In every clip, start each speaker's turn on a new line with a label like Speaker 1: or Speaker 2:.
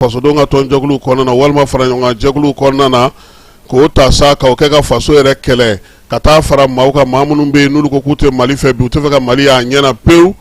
Speaker 1: fasodenw ka tɔn jɛkulu kɔnɔna na walima fara ɲɔgɔn kan jɛkulu kɔnɔna na k'o ta sa k'o kɛ ka faso yɛrɛ kɛlɛ ka taa fara maaw kan maa minnu bɛ yen n'olu ko k'u tɛ mali fɛ bi u tɛ fɛ ka mali y'a ɲɛna pewu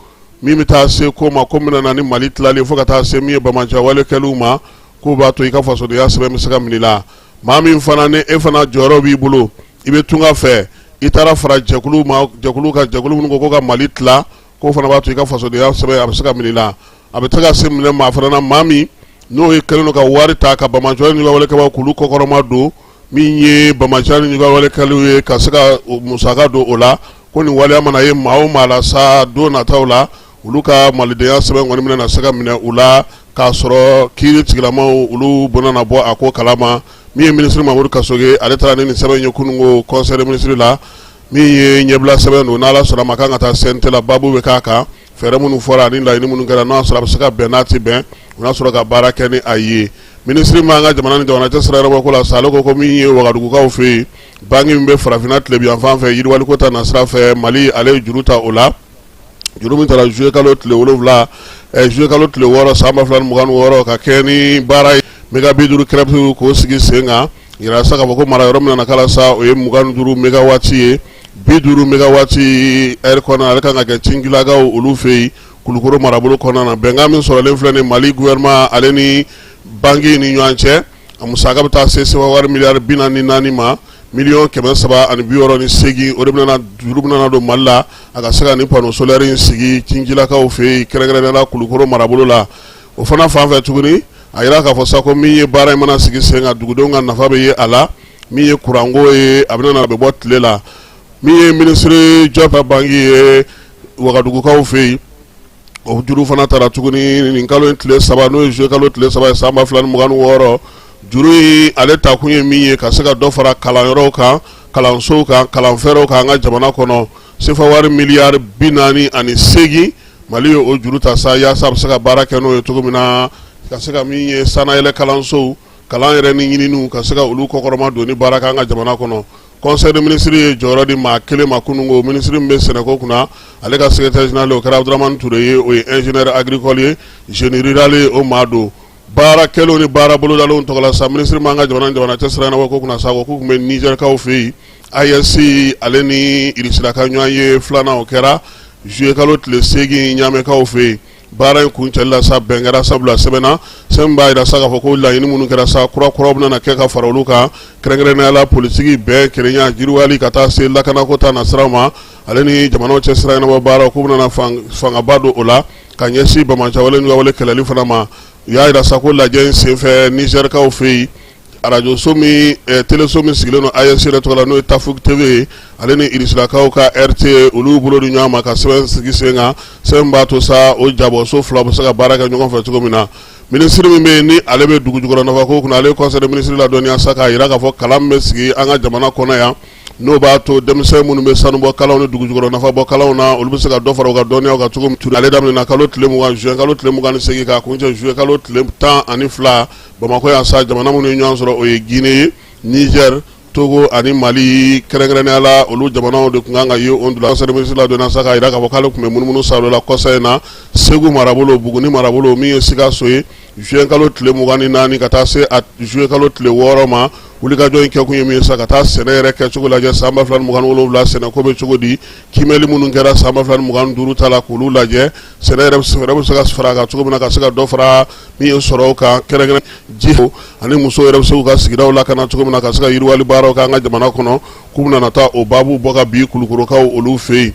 Speaker 1: min bɛ taa se ko ma ko min na ni mali tilalen fo ka taa se min ye banbaanci wale kɛli ma k'o b'a to i ka fasodenya sɛbɛn bɛ se ka minɛ i la maa min fana ni e fana jɔyɔrɔ b'i bolo i bɛ tunga fɛ i taara fara jɛkulu ma jɛkulu kan jɛkulu minnu ko ko ka mali tila k'o fana b'a to i ka fasodenya sɛbɛn a bɛ se ka minɛ i la a bɛ se ka se minɛ maa fana na maa min n'o ye kɛlen ka wari ta ka banbaanci ni juguya wale kɛbaa k'olu kɔkɔrɔma don min ye banbaanci ni juguya wale kɛlaw ye ka se ka musaka don o la ko nin waleya mana ye maa o maa la sa don nataw la olu ka malidenya sɛbɛn kɔni bɛna se ka minɛ u la k'a sɔrɔ kiiri tigilamaw olu bɛna na bɔ a ko kalama min ye minisiri mamadu kasoge ale taara ni nin sɛbɛn ye kunungo conseil des ministres la min ye ɲɛbila sɛbɛn don n'ala sɔnna ma kan ka taa CNT la baabu bɛ k'a kan fɛɛrɛ minnu fɔra ani laɲini minnu kɛra n'a sɔrɔ a bɛ se ka bɛn n'a tɛ bɛn u n'a sɔrɔ ka baara kɛ ni a ye minisiri ma an ka jamana ni jamana cɛ sira ɲɛnabɔ ko la sa ale ko ko min ye wagadugukaw fɛ yen banki min bɛ farafinna tilebin yanfan fɛ yiriwaliko ta na sira fɛ mali ale ye juru ta o la juru min taara juillet kalo tile wolonwula ɛ juillet kalo tile wɔɔrɔ san ba fila ni mugan ni wɔɔrɔ ka kɛ ni baara ye mega bi duuru crête k'o sigi sen kan yira sa k'a fɔ ko mara yɔrɔ min na k'a la sa o ye mugan ni duuru megawati ye bi duuru megawati heure kɔnɔ ale kan ka kɛ tinkelekaw olu fɛ yen kulukoro marabolo kɔnɔna na bɛnkan min sɔrɔlen filɛ nin mali gouvernement ale ni banki ni ɲɔgɔn cɛ A musaka bɛ taa se sefawari miliyari bi naani ni naani ma miliyɔn kɛmɛ saba ani bi wɔɔrɔ ni segin o de bɛna juru bɛna don mali la a ka se ka ni panneau solaire in sigi tinkelekaw fɛ yen kɛrɛnkɛrɛnnenya la kulukɔrɔ marabolo la o fana fan fɛ tuguni a yira k'a fɔ sa ko min ye baara in mana sigi sen kan dugudenw ka nafa bɛ ye a la min ye kuranko ye a bɛna bɛ bɔ tile la min ye minisiri jɔpu banki ye wagadugukaw fɛ yen o juru fana taara tuguni nin kalo in tile saba n'o ye juillet kalo tile saba ye san ba fila ni mugan ni wɔɔrɔ juru in ale ta kun ye min ye ka se ka dɔ fara kalanyɔrɔw kan kalansow kan kalanfɛɛrɛw kan an ka jamana kɔnɔ sefawari miliyari bi naani ani seegin mali ye o juru ta sa yaasa a bɛ se ka baara kɛ n'o ye cogo min na ka se ka min ye sanayɛlɛ kalansow kalan yɛrɛ ni ɲininiw ka se ka olu kɔkɔrɔma don ni baara kɛ an ka jamana kɔnɔ Conseil des ministres ye jɔyɔrɔ di maa kelen ma kunungo minisiri min bɛ sɛnɛko kunna ale ka secrétaire général o kɛra abdramane ture ye o ye ingénieur agricole ye génie rural ye o maa don baara kɛlenw ni baara bolodalenw tɔgɔ la sa minisiri ma an ka jamana ni jamana cɛ sira ɲɛnabɔ ko kunna sa ko k'u tun bɛ nizɛrikaw fɛ yen AES ale ni irisila ka ɲɔgɔnye filanan o kɛra juillet kalo tile seegin ɲamɛkaw fɛ yen Baara in kuncɛli la sa bɛn kɛra sabula sɛbɛn na sɛbɛn min b'a jira sa k'a fɔ ko laɲini minnu kɛra sa kura kuraw bɛna kɛ ka fara olu kan kɛrɛnkɛrɛnnenya la politiki bɛn kelenya yiriwali ka taa se lakanako ta na sira ma ale ni jamanaw cɛ sira ɲɛnabɔ baaraw k'u bɛna fangaba don o la ka ɲɛsin banbaanciya wale kɛlɛli fana ma u y'a jira sa ko lajɛ in senfɛ nizɛrikaw fɛ yen arajoso teleso min sigilen don AES yɛrɛ tɔgɔ la n'o ye Tafouk TV ye ale ni Irisilakaw ka RT olu bolo di ɲɔgɔn ma ka sɛbɛn sigi sen kan sɛbɛn min b'a to sa o jabɔso fila bɛ se ka baara kɛ ɲɔgɔn fɛ cogo min na minisiri min bɛ yen ni ale bɛ dugu jukɔrɔ nafako kunna ale conseil des ministres ladɔnniya sa k'a jira k'a fɔ kalan min bɛ sigi an ka jamana kɔnɔ yan n'o b'a to denmisɛn minnu bɛ sanubɔ kalanw ni dugu jukɔrɔ nafa bɔ kalanw na olu bɛ se ka dɔ fara u ka dɔnniyaw kan cogo min ale daminɛna kalo tile mugan zuwɛn kalo tile mugan ni segin ka kuncɛ zuye kalo tile tan ani fila Bamakɔ yan sa jamana minnu ye ɲɔgɔn sɔrɔ o ye Gine ye Nizɛri Togo ani Mali kɛrɛnkɛrɛnya la olu jamanaw de tun kan ka ye o de la conseil des ministres ladɔnniya sa k'a jira k'a fɔ k'ale tun bɛ munumunu sa olu la kɔsa in na Segu marabolo Buguni marabolo min ye Sikaso ye zuwɛn kalo tile mugan ni naani ka taa se zuye kalo tile wɔɔrɔ ma wulikajɔ in kɛkun ye min ye sa ka taa sɛnɛ yɛrɛ kɛcogo lajɛ san ba fila ni mugan ni wolowula sɛnɛ ko bɛ cogo di kimɛli minnu kɛra san ba fila ni mugan ni duuru ta la k'olu lajɛ sɛnɛ yɛrɛ bɛ se ka fara a kan cogo min na ka se ka dɔ fara min ye sɔrɔ kan kɛrɛnkɛrɛn ji ani muso yɛrɛ bɛ se k'u ka sigidaw lakana cogo min na ka se ka yiriwali baaraw k'an ka jamana kɔnɔ k'u bɛna na taa o baabu bɔ ka bi kulukorokaw olu fɛ yen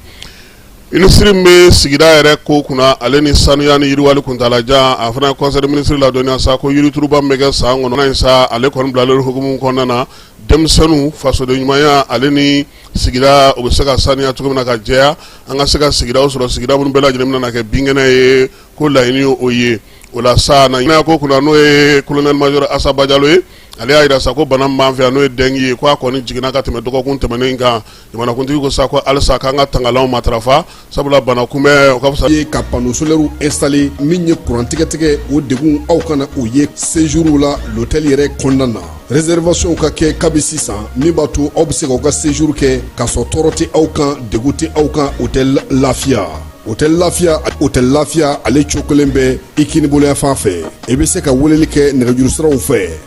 Speaker 1: minisiri min bɛ sigida yɛrɛ ko kunna ale ni sanuya ni yiriwali kuntaalajan a fana ye conseil des ministres ladɔnniya sa ko yirituruba min bɛ kɛ san kɔnɔ in sa ale kɔni bilalen hukumu kɔnɔna na denmisɛnninw fasoden ɲumanya ale ni sigida o bɛ se ka saniya cogo min na ka jɛya an ka se ka sigidaw sɔrɔ sigida minnu bɛɛ lajɛlen bɛna kɛ binkɛnɛ ye ko laɲini o ye o la sa kɛnɛyako kunna n'o ye colonel major Asa Bajalo ye ale y'a jira sa ko bana min b'an fɛ yan n'o ye dengue ye k'a kɔni jiginna ka tɛmɛ dɔgɔkun tɛmɛnen kan jamanakuntigi ko sa ko halisa k'an ka tangalanw matarafa sabula bana kunbɛn ka fisa ye ka panneaux
Speaker 2: solaires installer min ye courant tigɛtigɛ o degun aw kana o ye séjour la l'hôtel yɛrɛ kɔnɔna na réservation ka kɛ kabi sisan min b'a to aw bɛ se k'aw ka séjour kɛ k'a sɔrɔ tɔɔrɔ tɛ aw kan degun tɛ aw kan hôtel lafiya hôtel lafiya hôtel lafiya ale cokolen bɛ i kinibolo yanfan fɛ i bɛ se ka weleli kɛ nɛgɛjuru siraw fɛ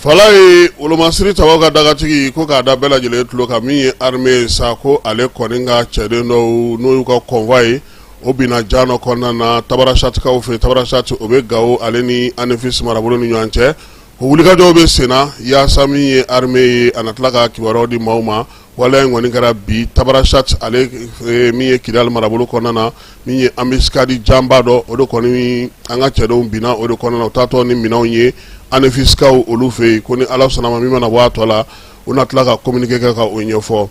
Speaker 1: Fa ye wolomasiri tabaw ka dagatigi ko k'a da bɛɛ lajɛlen tulo kan min ye armée ye sa ko ale kɔni ka cɛden dɔw n'o y'u ka convoi ye o binna jan dɔ kɔnɔna na Tabarasatikaw fɛ Tabarasati o bɛ Gawo ale ni Anefisi marabolo ni ɲɔgɔn cɛ ko wulikajɔw bɛ senna yaasa min ye armée ye a na tila ka kibaruyaw di maaw ma waleya in kɔni kɛra bi Tabrichat ale min ye Kidali marabolo kɔnɔna na min ye embuscade janba dɔ o de kɔni an ka cɛdenw binna o de kɔnɔna na u taatɔ ni minɛnw ye Anefisikaw olu fɛ yen ko ni ala sɔnna a ma min mana bɔ a tɔ la u na tila ka communiqué kɛ ka o ɲɛfɔ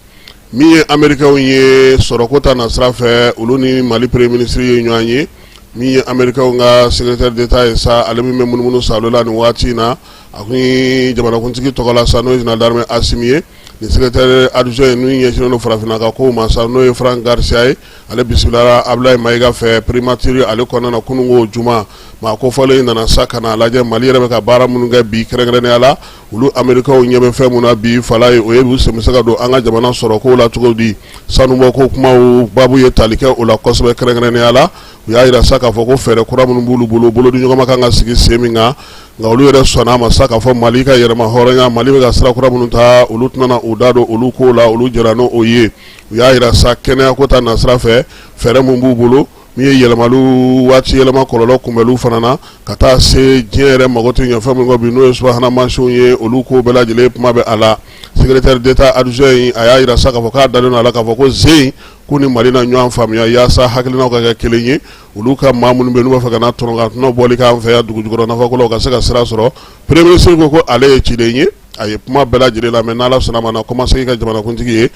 Speaker 1: min ye Amerikɛnw ye sɔrɔko ta nasira fɛ olu ni mali premier ministre ye ɲɔgɔn ye min ye Amerikɛnw ka secrétaire d'état ye sa ale min bɛ munumunu Sahel la nin waati in na A kun ye jamanakuntigi tɔgɔla sa n'o ye général d'armée Asimi ye nin secrétaire adjoint n'u ɲɛsinnen farafinna ka kow ma sa n'o ye Frank Garcia ye ale bisimilala Abulaye Mayiga fɛ primature ale kɔnɔna na kununko juma maa kofɔlen in nana sa ka na a lajɛ mali yɛrɛ bɛ ka baara minnu kɛ bi kɛrɛnkɛrɛnya la olu Amerikɛnw ɲɛ bɛ fɛn min na bi fala ye o ye u sen bɛ se ka don an ka jamana sɔrɔko la cogo di sanubɔko kuma baabu ye tali kɛ o la kosɛbɛ kɛrɛnkɛrɛnya la u y'a yira sa k'a fɔ ko fɛɛrɛ kura minnu b'u bolo bolodiɲɔgɔnma kan ka sigi sen min kan nka olu yɛrɛ sɔnna a ma sa k'a fɔ mali ka yɛrɛmahɔrɔnya mali bɛ ka sira kura minnu ta olu tɛna u da don olu ko la olu jɛnna n' o ye u y'a yira sa kɛnɛya ko ta nasira fɛ fɛɛrɛ mun b'u bolo min ye yɛlɛmali waati yɛlɛma kɔlɔlɔ kunbɛnli fana na ka taa se diɲɛ yɛrɛ mago tɛ ɲɛ fɛn min kɔ bi n'o ye subahana mansinw ye olu ko bɛɛ lajɛlen kuma bɛ a la secrétaire d'état adjoint a y'a yira sa k'a fɔ k'a dalen don a la k'a fɔ ko z k'u ni mali na ɲɔgɔn faamuya yaasa hakilinaw ka kɛ kelen ye olu ka maa minnu bɛ yen n'u b'a fɛ ka na tɔrɔ ka tɔnɔ bɔli k'an fɛ yan dugujukɔrɔ nafako la u ka se ka sira sɔrɔ premier ministre ko ko ale ye ciden ye a ye kuma bɛɛ lajɛlen lamɛn n'Ala sɔnna a ma a na kɔmasegin ka jamanakuntigi ye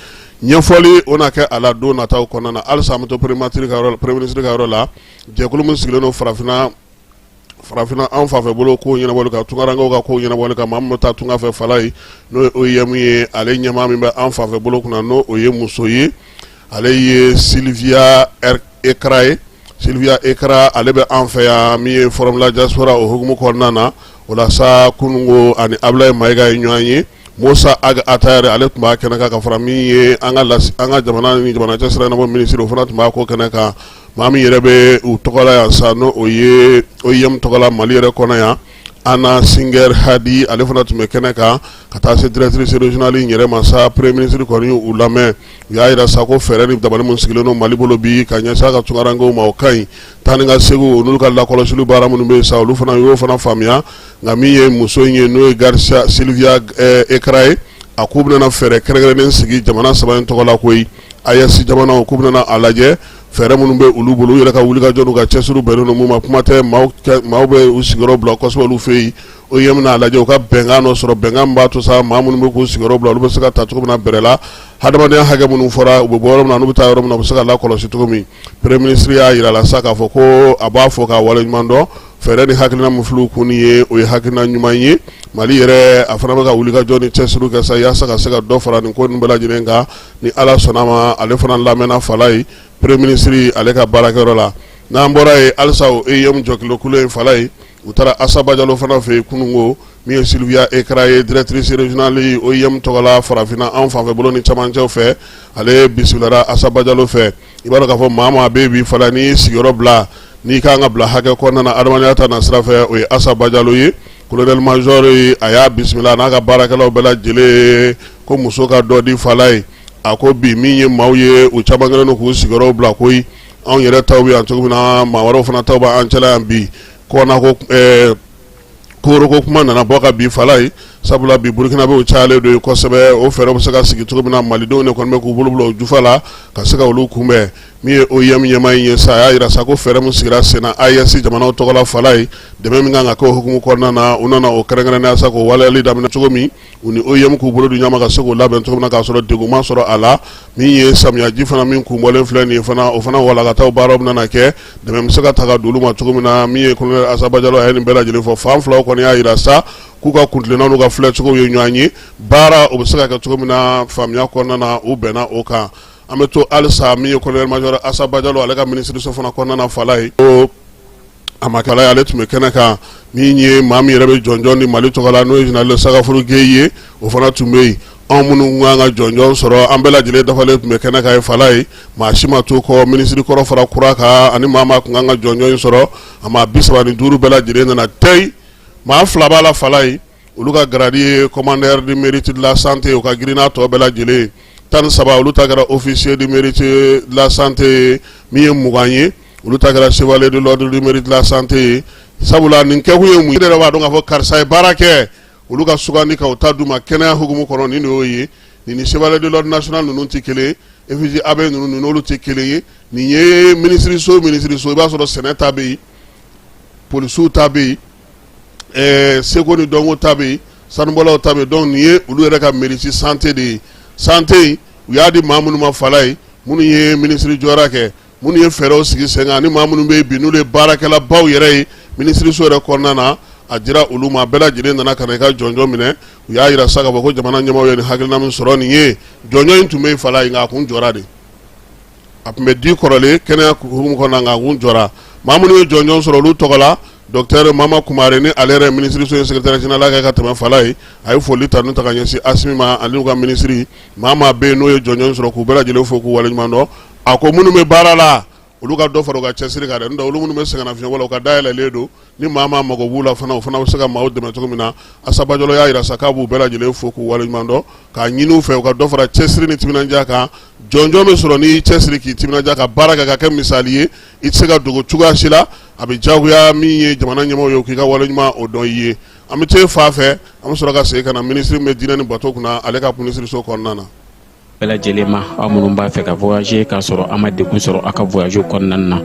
Speaker 1: ɲɛfɔli o na kɛ a la don nataw kɔnɔna na halisa an bɛ to premier ministre ka yɔrɔ la jɛkulu min sigilen don farafinna farafinna an fanfɛ bolo ko ɲɛnabɔli kan tunkarankew ka ko ɲɛnabɔli kan maa min bɛ taa tunga fɛ fala ye n'o ye OIM ye ale ɲɛmaa min bɛ an fanfɛ bolo kunna n'o o ye muso ye ale ye Sylvia Ekra ye Sylvia Ekra ale bɛ an fɛ yan min ye Forum la diaspora o hukumu kɔnɔna na o la sa kununko ani Abulaye Mayiga ye ɲɔgɔn ye Mossa Ag Attaher ale tun b'a kɛnɛ kan ka fara min ye an ka an ka jamana ni jamana cɛ sira na minisiri o fana tun b'a ko kɛnɛ kan Maa min yɛrɛ bɛ u tɔgɔla yan sa n' o ye OIM tɔgɔla mali yɛrɛ kɔnɔ yan Anna Singer Hadi ale fana tun bɛ kɛnɛ kan ka taa se directrice régionale yɛrɛ ma sa premier ministre kɔni y'u lamɛn u y'a yira sa ko fɛɛrɛ ni dabali mun sigilen don mali bolo bi ka ɲɛsin a ka tunkarankew ma o ka ɲi taa ni ka segu n'olu ka lakɔlɔsili baara minnu bɛ sa olu fana y'o fana faamuya nka min ye muso in ye n'o ye Gar Sylvia Ekra ye a k'u bɛna fɛɛrɛ kɛrɛnkɛrɛnnen sigi jamana saba in tɔgɔ la koyi AES jamana k'u bɛna a lajɛ fɛɛrɛ minnu bɛ olu bolo u yɛrɛ ka wuli ka jɔ n'u ka cɛsiri bɛnnen don mun ma kuma tɛ maaw bɛ u sigiyɔrɔ bila kosɛbɛ olu fɛ yen OIM n'a lajɛ u ka bɛnkan dɔ sɔrɔ bɛnkan min b'a to sa maa minnu bɛ k'u sigiyɔrɔ bila olu bɛ se ka taa cogo min na bɛrɛ la hadamadenya hakɛ minnu fɔra u bɛ bɔ yɔrɔ min na n'u bɛ taa yɔrɔ min na u bɛ se ka lakɔlɔsi cogo min premier ministre y'a jira la sa k'a fɔ ko a b'a fɔ k'a waleɲuman dɔn fɛɛrɛ ni hakilina min filɛ u kun ye o ye hakilina ɲuman ye mali yɛrɛ a fana bɛ ka wuli ka jɔ ni cɛsiri kɛ sa yaasa ka se ka dɔ fara nin ko nin bɛɛ lajɛlen kan ni ala sɔnna a ma ale fana lamɛnna fala ye premier ministre ale ka baarakɛyɔrɔ la n'an bɔra yen halisa o OIM jɔkilokulu in fala ye u taara Asa Bajalo fana fɛ yen kununko min ye Sylvia Ekra ye directrice régionale OIM tɔgɔ la farafinna an fanfɛ bolo ni camancɛw fɛ ale bisimilara Asa Bajalo fɛ I b'a dɔn k'a fɔ maa maa bɛ bi fala ni sigiyɔrɔ bila n'i ka kan ka bila hakɛ kɔnɔna na adamadenya ta nasira fɛ o ye Asa Bajalo ye colonel major ye a y'a bisimila n'a ka baarakɛlaw bɛɛ lajɛlen ko muso ka dɔ di fala ye a ko bi min ye maaw ye u caman kɛlen don k'u sigiyɔrɔ bila koyi anw yɛrɛ taw bɛ yan cogo min na maa wɛrɛw fana taw b'an cɛla yan bi kɔna ko Koro ko kuma nana bɔ ka bin fala ye sabula bi burukinabɛw cayalen don kosɛbɛ o fɛɛrɛ bɛ se ka sigi cogo min na malidenw de kɔni bɛ k'u bolo bila u jufa la ka se ka olu kunbɛn min ye OIM ɲɛmaa in ye sa a y'a jira sa ko fɛɛrɛ min sigira sen na AES jamanaw tɔgɔ la fala ye dɛmɛ min kan ka kɛ o hukumu kɔnɔna na u nana o kɛrɛnkɛrɛnnenya sa k'o waleyali daminɛ cogo min U ni OIM k'u bolo di ɲɔgɔn ma ka se k'o labɛn cogo min na k'a sɔrɔ degun ma sɔrɔ a la min ye samiyaji fana min kun bɔlen filɛ nin fana o fana walankataw baaraw bɛna kɛ dɛmɛ bɛ se ka ta ka d'olu ma cogo min na min ye colonel Asa Bajalo a ye nin bɛɛ lajɛlen fɔ fan filaw kɔni y'a jira sa k'u ka kuntilennaw n'u ka filɛcogow ye ɲɔgɔn ye baara o bɛ se ka kɛ cogo min na faamuya kɔnɔna na u bɛnna o kan an bɛ to halisa min ye colonel major Asa Bajalo ale ka minisiriso fana kɔnɔna fala ye a ma kala ale tun bɛ kɛnɛ kan min ye maa min yɛrɛ bɛ jɔnjɔn di mali tɔgɔ la n'o ye général Sagafuru Gɛyi ye o fana tun bɛ yen anw minnu tun kan ka jɔnjɔn sɔrɔ an bɛɛ lajɛlen dafalen tun bɛ kɛnɛ kan yen fala ye maa si ma to kɔ minisiri kɔrɔ fara kura kan ani maa maa tun kan ka jɔnjɔn sɔrɔ a maa bi saba ni duuru bɛɛ lajɛlen nana tɛ maa fila b'a la fala ye olu ka garadi ye commandeur du mérite de la santé o ka girin n'a tɔ bɛɛ lajɛlen ye tan ni saba olu ta kɛra officier du mérite de la santé ye min ye mugan ye olu ta kɛra chevalier de l'ordre du mérite de la santé ye sabula nin kɛkun ye mun ye i yɛrɛ b'a dɔn k'a fɔ karisa ye baara kɛ olu ka sugandi ka u ta d'u ma kɛnɛya hukumu kɔnɔ nin de y'o ye nin ni chevalier de l'ordre national ninnu tɛ kelen ye effigie abeille ninnu nin n'olu tɛ kelen ye nin ye minisiriso minisiriso i b'a sɔrɔ sɛnɛ ta bɛ yen polisiw ta bɛ yen ɛɛ seko ni dɔnko ta bɛ yen sanubɔlaw ta bɛ yen donc nin ye olu yɛrɛ ka mérite santé de ye santé in u y'a di maa minnu ma fala ye minnu ye minisiri jɔyɔrɔ kɛ minnu ye fɛɛrɛw sigi sen kan ani maa minnu bɛ yen bi n'olu ye baarakɛlabaw yɛrɛ ye minisiriso yɛrɛ kɔnɔna na a dira olu ma bɛɛ lajɛlen nana ka na i ka jɔnjɔn minɛ u y'a jira sa k'a fɔ ko jamana ɲɛmaaw ye nin hakilina min sɔrɔ nin ye jɔnjɔn in tun bɛ yen fala ye nka a kun jɔra de a tun bɛ di kɔrɔlen kɛnɛya hukumu kɔnɔna na nka kun jɔra maa minnu ye jɔnjɔn sɔrɔ olu tɔgɔ la docteur Mama Kumare ni ale yɛrɛ minisiriso ye secrétaire général kɛ ka tɛmɛ fala ye a ye foli ta n'u ta ka ɲɛsin Asimi ma ani u ka minisiri maa maa bɛ yen n'u ye jɔnjɔn sɔrɔ k'u bɛɛ lajɛlen fo k'u waleɲuman dɔn a ko minnu bɛ baara la olu ka dɔ fara u ka cɛsiri kan dɛ n'o tɛ olu minnu bɛ sɛgɛnnafiɲɛbɔ la u ka da yɛlɛlen don ni maa maa mago b'u la fana o fana bɛ se ka maaw dɛmɛ cogo min na Asa Bajalo y'a yira sa k'a b'u bɛɛ lajɛlen fo k'u waleɲuman dɔn k'a ɲini u fɛ u ka dɔ fara cɛsiri ni timinandiya kan jɔnjɔn bɛ sɔrɔ n'i y'i cɛsiri k'i timinandiya ka baara kɛ ka kɛ misali ye i tɛ se ka dogo cogoya si la a bɛ diyagoya min ye jamana ɲɛmaaw ye k'i ka waleɲuman o dɔn i ye an bɛ te fa fɛ an bɛ sɔrɔ ka segin ka na minisiri min bɛ diinɛ ni bato kunna ale ka minisiriso kɔnɔna na bɛɛ lajɛlen
Speaker 3: ma aw minnu b'a fɛ ka voyager k'a sɔrɔ a ma degun sɔrɔ a ka voyage kɔnɔna na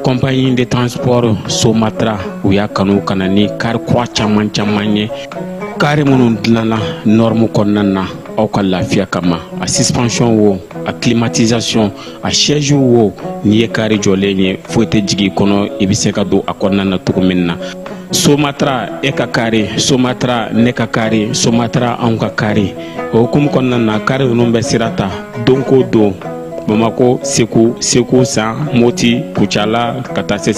Speaker 3: compagnie de transport Somatra u y'a kanu ka na ni kari kura caman caman ye kari minnu dilanna norme kɔnɔna na aw ka lafiya kama a suspension wo a climatisation a siège wo n'i ye kari jɔlen ye foyi tɛ jigin i kɔnɔ i bɛ se ka don a kɔnɔna na cogo min na Somatra e ka kari Somatra ne ka kari Somatra anw ka kari o hukumu kɔnɔna na kari ninnu bɛ sira ta don ko don Bamakɔ Segu Segu San Moti Kucala ka taa se